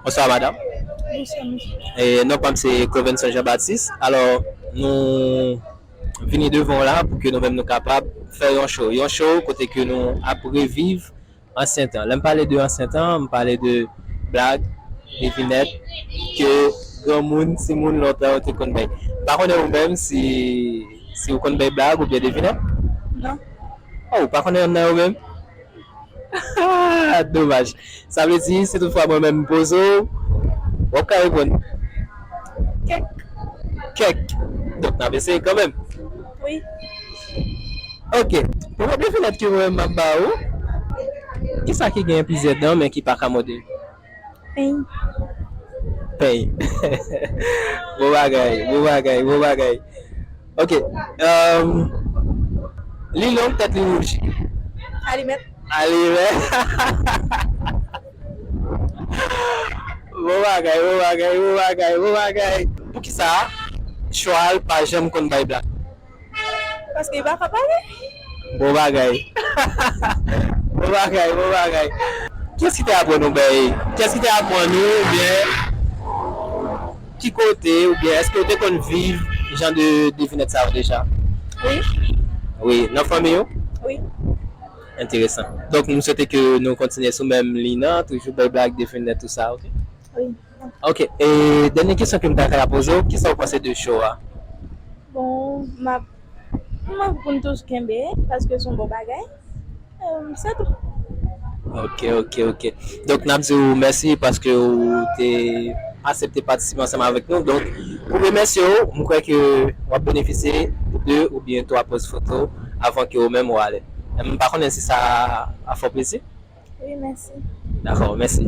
Bonswa madam Non pam se Clovenson Jean Baptiste alò nou vini devan w la pou ke nou menm nou kapab fè yon show yon show kote ke nou ap reviv ansyen tan. Lè m pale de ansyen tan, m pale de blag, devinèt ke granmoun, timoun lontan yo te konn bay. M pa konnen ou menm si si ou konn bay blag oubyen devinèt? Non. Oh, ou pa konnen yonn nan yo menm? Haa! Domaj. Sa vle di, si tout fwa mwen menm m poze w, w ap ka reponn? Kèk. Kèk. Donk n ap eseye kanmenm. wi. Ok pou mòde fenèt ki wè map ba ou kisa ki gen plizyè dan men ki paka mòde? Peny. Peny bon bagay bon bagay bon bagay ok li long tèt li wouj? Alimèt. Alimèt. Bon bagay, bon bagay, bon bagay, bon bagay. Poukisa chwal pa janm konn bay bla? Paske li pa ka pale. Bon bagay. Bon bagay, bon bagay. Kiyès ki te aprann ou bèye? Kiyès ki te aprann ou oubyen ki kote oubyen èske ou te konn viv jan de devinèt sa yo deja? Wi. Wi, nan fanmi ou? Wi. Enteresan. Donk m swete ke nou kontinye sou menm liy nan, toujou bay blag, definnè tou sa ok. Wi. Ok e dènye kesyon ke m ta ka poze w, kisa w panse de show a? Bon m ap m ap pou n tous kenbe paske s on bon bagay e se tou. Ok ok ok donk n ap di w mèsi paske w te asepte patisipe ansanm avèk nou donk pou remèsye w m kwè ke w ap benefisye 2 oubyen 3 poz foto avan ke w menm w ale. M pa konnen si sa a fè w plezi. Wi, mèsi. Dakò, mèsi.